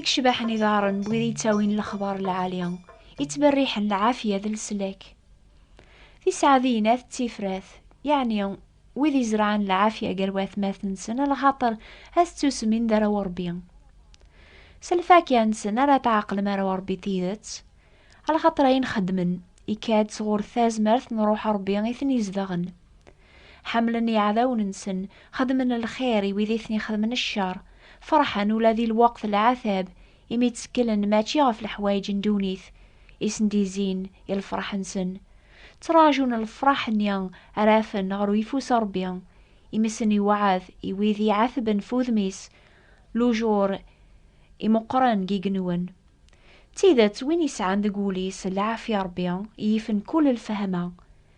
icbaḥen idaṛen n wid yettawin lexbar lɛali yettberriḥen lɛafya d leslak tiseɛdiyin at tifrat yeɛni wid izerɛen lɛafya gar watmaten-nsen lxaṭer ad ttusmin d arraw Ṛebbi s lfakya-nsen ara tɛeqlem arraw Ṛebbi tidet lxaṭer ayen xeddmen ikka-d sɣur tazmert n Ṛuḥ Ṛebbi i ten-izedɣen Ḥemmlen iɛdawen-nsen, xedmen lxir i wid i ten-ixedmen ccer, ferḥen ula di lweqt n lɛatab, imi ttekklen mačči ɣef leḥwayeǧ n ddunit i sen-d-izzin i lferḥ-nsen. Ttraǧun lefraḥ-nni ara afen ɣer uyeffus n Ṛebbi, imi sen iweɛɛed i wid i iɛatben f udem-is lujur imeqqren deg igenwen. D tidet, win isɛan deg wul-is lɛafya n Ṛebbi, yifen kull lfehma,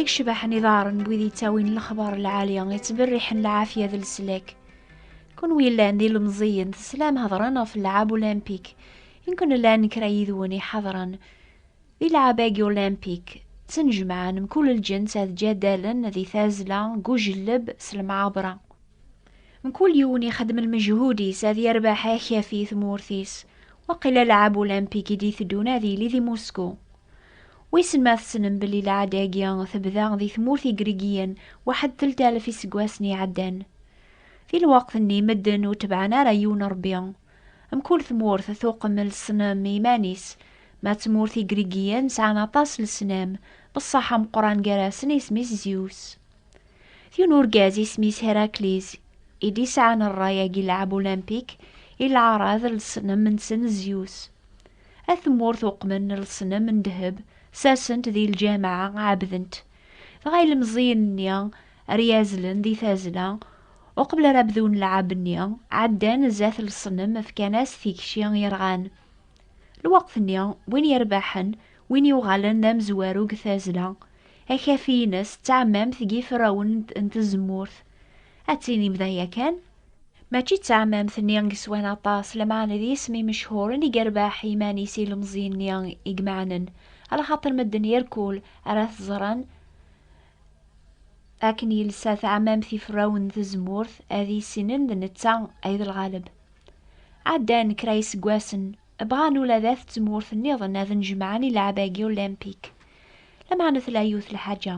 I yecbaḥen iḍaren n wid yettawin lexbar lɛali, yettberriḥen lɛafya d leslak. Kunwi yellan d ilemẓiyen, teslam hedran ɣef lɛab ulimpik. Inkun llan kra yid-wen iḥadren di lɛab-agi ulimpik, ttenjemɛen mkul lǧens ad ǧadalen di tazzla, deg ujelleb, s lemɛabra. Mkul yiwen ixeddem lmejhud-is ad yerbeḥ akafi i tmurt-is. Waqila lɛab ulimpik i d-iteddun ad yili di Musku. Wissen ma tessnem belli lɛada-agi tebda di tmurt Igrigiyen waḥed telt alef iseggasen iɛeddan. Di lweqt-nni medden ur tebɛen ara yiwen rebbi. Mkul tmurt tuqem lesnam i yiman-is. Ma d tmurt Igrigiyen sɛan aṭas lesnam, beṣṣaḥ ameqqran gar-asen isem-is Zeus. D yiwen urgaz isem-is Herakliz i d-isɛan rray-agi n lɛeb Olympik i lɛarad n lesnam-nsen Zeus. At tmurt uqmen lesnem n ddheb, sersen-t di lǧameɛ, ɛebden-t. Dɣa ilemẓiyen-nni ar yazzlen di tazzla, uqbel ara bdun lɛab-nni, ɛeddan zdat lesnem, fkan-as tikci yerɣan. Lweqt-nni, win yerbaḥen, win yuɣalen d amezwaru deg tazzla, akafi-ines d tɛemmamt n yiferrawen n tzemmurt, ad tinim daya kan? Mačči d taɛmamt-nni i yeswan aṭas, lameɛna d yisem imechhuren i yerbeḥ iman-is i ilemẓi-nni i imeɛnen, ala xaṭer medden yerkul ara t-ẓren akken yelsa taɛmamt iferrawen n tzemmurt, ad issinen d netta ay d lɣaleb. Ɛeddan kra yiseggasen, bɣan ula d at tmurt nniḍen ad nn-jemɛen i lɛab-agi olympique, lameɛna tella yiwet lḥaǧa,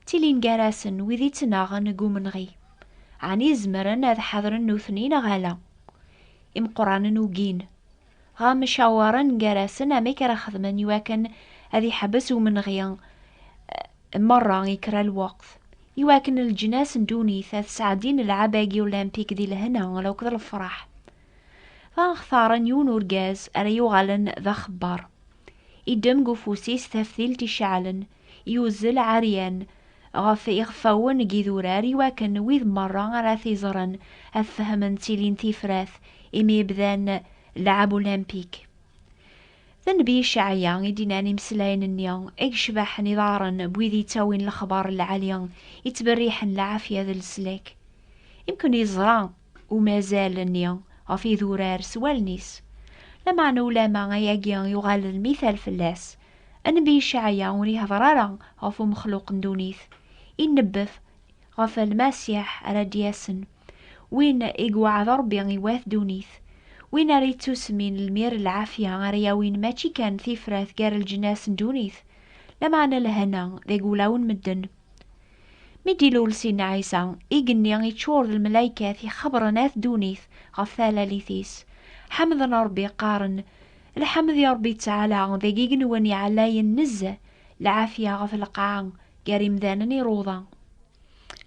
Ttilin gar-asen wid i ttnaɣen deg umenɣi. Ɛni zemren ad ḥadren nutni neɣ ala? Imeqqranen ugin. Dɣa mcawaren gar-asen amek ara xedmen iwakken ad iḥbes umenɣi merra i kra n lweqt, iwakken leǧnas n ddunit ad sɛeddin lɛab-agi ulimpik di lehna akked lefraḥ. Dɣa xtaren yiwen urgaz ara yuɣalen d axebbar. Iddem deg ufus-is taftilt iceɛlen, yuzzel ɛeryan ɣef iɣeffawen n yidurar iwakken wid merra ara t-iẓren ad fehmen ttilin tifrat imi bdan lɛab ulimpik. D nnbi Cɛaya i d-innan imeslayen-nni i yecbaḥen iḍarren n wid yettawin lexbar n lɛali yettberriḥen lɛafya d leslak. Imken yeẓra umazal-nni ɣef yidurar s wallen-is, lameɛna ulamma ayagi yuɣal d lmithal fell-as Anebbi Icɛaya ur ihdeṛ ara ɣef umexluq n ddunit, inebbef ɣef Lmasiḥ ara d-yasen, win i iweɛɛed Ṛebbi i wat ddunit, win ara ittusmin lmir n lɛafya ara yawin mačči kan tifrat gar leǧnas n ddunit, lameɛna lehna deg wulawen n medden. Mi d-ilul Sidna Ɛisa, igenni iččur d lmelaykat ixebṛen at ddunit ɣef talalit-is, ḥemden Ṛebbi qqaren, Lḥemd i Ṛebbi ttɛala, deg igenwan iɛlayen nezzeh, lɛafya ɣef lqaɛa gar imdanen i ṛuḍa.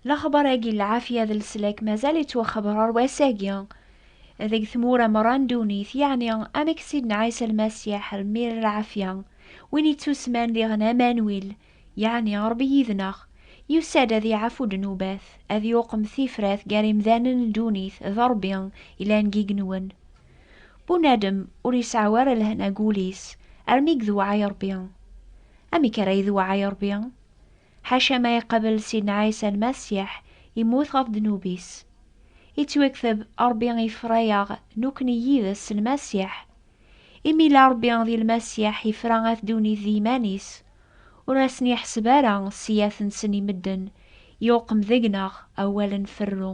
Lexbar-agi n lɛafya d leslak mazal yettwaxebbeṛ ɣer wass-agi deg tmura meṛṛa n ddunit, yeɛni amek Sidna Ɛisa Lmasiḥ lmir lɛafya, win yettusman diɣen Amanwil, yeɛni Ṛebbi yid-neɣ, yusa-d ad yeɛfu ddnubat, ad yuqem tifrat gar imdanen n ddunit d Ṛebbi yellan deg igenwan. Bunadem ur iseɛɛu ara lehna deg wul-is armi i gdewɛay Ṛebbi. Amek ara idewɛay Ṛebbi? Ḥaca ma iqabel Sidna Ɛisa Lmasiḥ immut ɣef ddnub-is. Ittwekteb, Ṛebbi ifra-yaɣ nukni yid-s s Lmasiḥ. Imi yella Ṛebbi di Lmasiḥ ifra at ddunit d yiman-is, ur asen-iḥseb ara ssiyat-nsen i medden, yuqem deg-neɣ awal n ferru.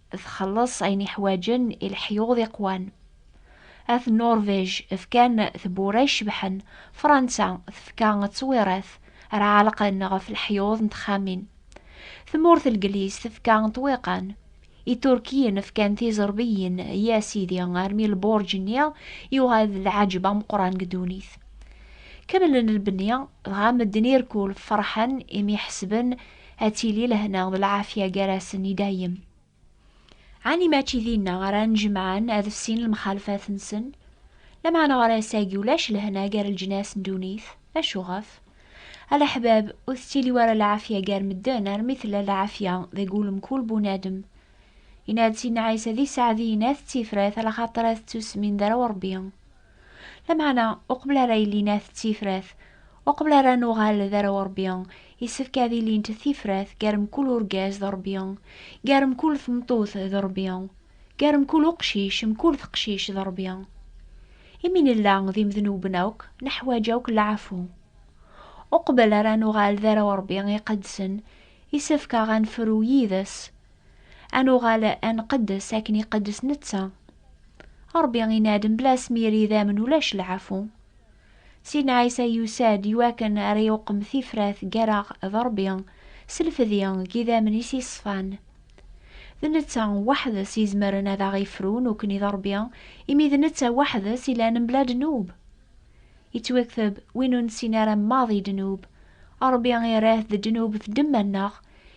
txelleṣ ayen iḥwaǧen i leḥyuḍ iqwan. At Nuṛvij fkan tewwura icebḥen, Fransa tefka ttwiṛat ara ɛelqen ɣef leḥyuḍ n texxamin. Tmurt Legliz tefka ṭṭwiqan. Iturkiyen fkan tiẓerbiyin, ya sidi armi lbuṛǧ-nni yuɣal d lɛaǧeb ameqqran deg ddunit. Kemmlen lbenni, dɣa medden irkul ferḥen imi ḥesben ad tili lehna d lɛafya gar-asen i dayem. Ɛni mačči dinna ara n-jemɛen ad fsin lemxalfat-nsen? Lameɛna ɣer ass-agi ulac lehna gar leǧnas n ddunit. Acu ɣef? A leḥbab, ur tettili wara lɛafya gar medden armi tella lɛafya deg wul mkul bunadem. Yenna-d Sidna Ɛisa di Sseɛdiyen, Ad tettifrat, alaxaṭer ad tettusmin d arraw n Rebbi. Lameɛna, uqbel ara ilin at d tifrat, uqbel ara nuɣal d arraw n Rebbi, yessefk ad ilint tifrat gar mkul urgaz d Rebbi, gar mkul tmeṭṭut d Rebbi, gar mkul uqcic, mkul teqcict d Rebbi. Imi nella d imednuben akk, neḥwaǧ akk leɛfu. Uqbel ara nuɣal d arraw n Rebbi iqedsen, yessefk-aɣ ad nefru yid-s Ad nuɣal ad nqeddes akken iqeddes netta. Ṛebbi inadem bla asmir idammen ulac lɛafu. Sidna Ɛisa yusa-d i wakken ara yuqem tifrat gar-aɣ d Ṛebbi s lfedi n yidammen-is iṣfan. D netta weḥd-s izemren ad aɣ-ifru nekkni d Ṛebbi imi d netta weḥd-s ilan mebla ddnub. Ittwekteb, Win ur nessin ara maḍi ddnub, Ṛebbi irra-t d ddnub f ddemma-nneɣ,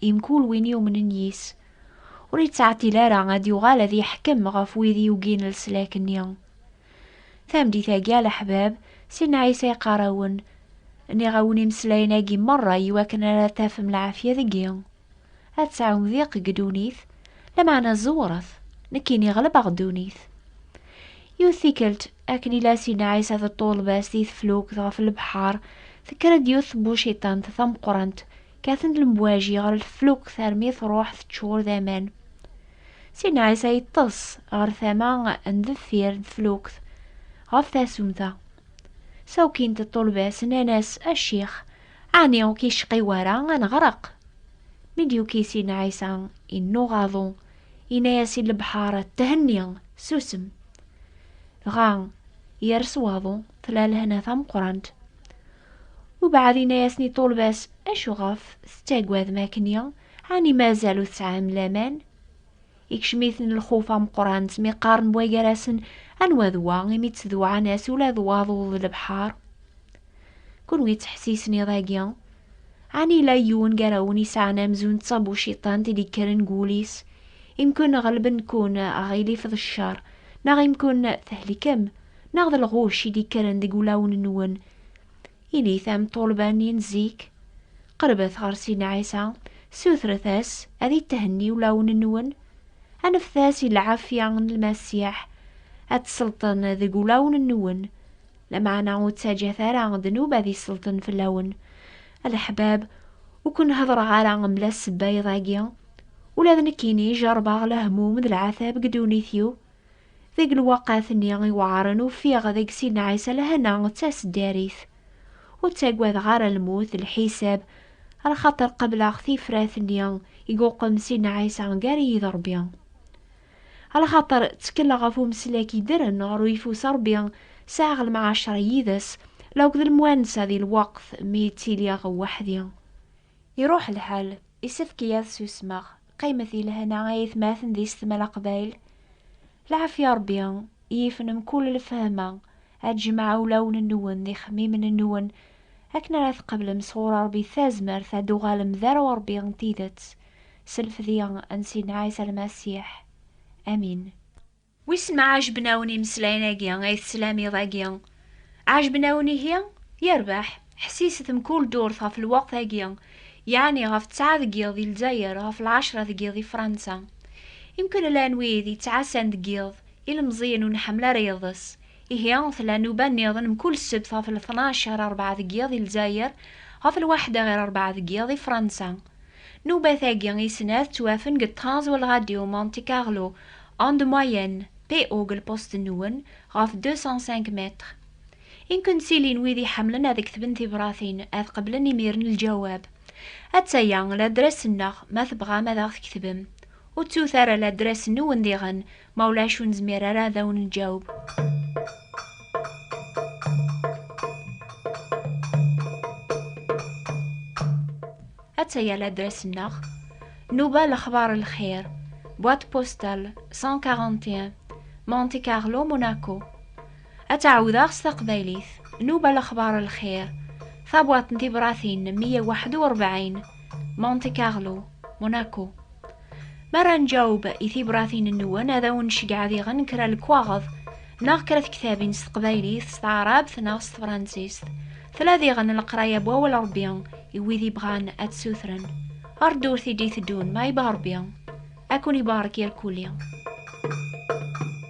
i mkul win yumnen yis, ur yettɛeṭṭil ara ad yuɣal ad yeḥkem ɣef wid yugin leslak-nni. Tameddit-agi a leḥbab, Sidna Ɛisa yeqqar-awen, Nniɣ-awen imeslayen-agi merra iwakken ara tafem lɛafya deg-i, ad tesɛum diq deg ddunit, lameɛna zewret, nekkini ɣelbeɣ ddunit. Yiwet tikkelt, akken i la Sidna Ɛisa d ṭṭulba-s di teflukt ɣef lebḥer, tekker-d yiwet tbuciṭant tameqqrant, Kkaten-d lemwaji ɣer leflukt armi truḥ teččur d aman. Sin Ɛisa yeṭṭes ɣer tama n deffir n teflukt ɣef tasumta. Sawkint ṭṭulba-s nnan-as, A ccix, ɛni ur k-icqi wara ad neɣreq? Mi d-yuki Sin Ɛisa innuɣ aḍu, yenna-as i lebḥer, Thenni, susem! Dɣa yers waḍu, tella lehna tameqqrant. Ubeɛd inna-yasen i ṭulba-s, Acuɣef tettagadem akkenni? Ɛni mazal ur tesɛam laman? Ikcem-iten lxuf ameqqran, ttmiqaren wa gar-asen, Anwa d wa, imi ttdewɛan-as ula d waḍu d lebḥer? Kunwi ttḥessisen iḍ-agi? Ɛni yella yiwen gar-awen isɛan amzun d tabuciṭant i d-ikkren deg wul-is, imkun ɣelben-ken aɣilif d ccer, neɣ imkun thelikem, neɣ d lɣucc i d-ikkren deg ulawen-nwen, Init am ṭulba-nni n zik, qerbet ɣer Sidna Ɛisa, sutret-as ad ithenni ulawen-nwen, anfet-as i lɛafya n Lmasiḥ ad tselṭen deg ulawen-nwen, lameɛna ur ttaǧǧat ara ddnub ad iselṭen fell-awen. A leḥbab, ur ken-heddreɣ ara mebla ssebba iḍ-agi, ula d nekkini jerrbeɣ lehmum d lɛatab deg ddunit-iw, Deg lweqt-nni iweɛren ufiɣ deg Sidna Ɛisa lehna d taseddarit. Ur ttagadeɣ ara lmut d lḥisab, ar xaṭer qebleɣ tifrat-nni i yuqem Sidna Ɛisa gar-iyi d Ṛebbi. Ar xaṭer ttekleɣ ɣef umeslak yeddren ɣer uyeffus n Ṛebbi, sɛiɣ lemɛaceṛ yid-s, la akked lemwansa di lweqt mi ttiliɣ weḥd-i. Iṛuḥ lḥal, isefk-iyi ad susmeɣ. Qqimet di lehna a yatmaten di setma Leqbayel. Lɛafya Rebbi yifen mkul lefhama a d-jemɛa ulawen-nwen d ixemmimen-nwen akken ara tqeblem sɣur Rebbi tazmert a d-uɣalem d arraw Rebbi n tidet s lfedya n Sidna Ɛisa Lmasiḥ. Amin. Wissen ma ɛejben-awen imeslayen-agi ay teslam iḍ-agi? Ɛejben-awen ihi? Yerbeḥ! Ḥesset-d mkul ddurt ɣef lweqt-agi, yeɛni ɣef ttɛa deg yiḍ di Lezzayer, ɣef lɛecra deg yiḍ di Fransa. Imkul llan wid yettɛassan deg yiḍ, ilemẓiyen ur nḥemmel ara iḍes. Ihi, tella nnuba niḍen mkul ssebt ɣef lṭnac ɣer rebɛa deg yiḍ di Lezzayer, ɣef lwaḥda ɣer rebɛa deg yiḍ di Fransa. Nnuba-tagi i snat ttwafen deg ṭṭrans wal Ɣadyu Monte Carlo, En de moyenne, PO-g lpost-nwen ɣef 205 mètres. I nkent tilin wid iḥemmlen ad ktben tibratin, ad qeblen imiren lǧawab. Atta-ya ladres-nneɣ ma tebɣam ad aɣ-tketvem. Ur ttut ara ladres-nwen diɣen, ma ulac ur nezmir ara ad awen-nǧaweb. Attaya l'adresse-nneɣ Nuba lexbar n lxir, boîte postale 141, Monte Carlo, Monaco. Ad tt-ɛawdeɣ s taqbaylit, Nuba lexbar n lxir, tabwaḍt n tibratin 141, Monte Carlo, Monaco. Mi ara nǧaweb i tibratin-nwen, ad awen-nceggeɛ diɣen kra lekwaɣeḍ neɣ kra tektabin s teqbaylit, s taɛrabt neɣ s tefransist. Tella diɣen leqraya n Wawal n Ṛebbi i wid yebɣan ad t-ssutren. Ar ddurt i d-iteddun, ma yebɣa Ṛebbi, ad ken-ibarek irkuli.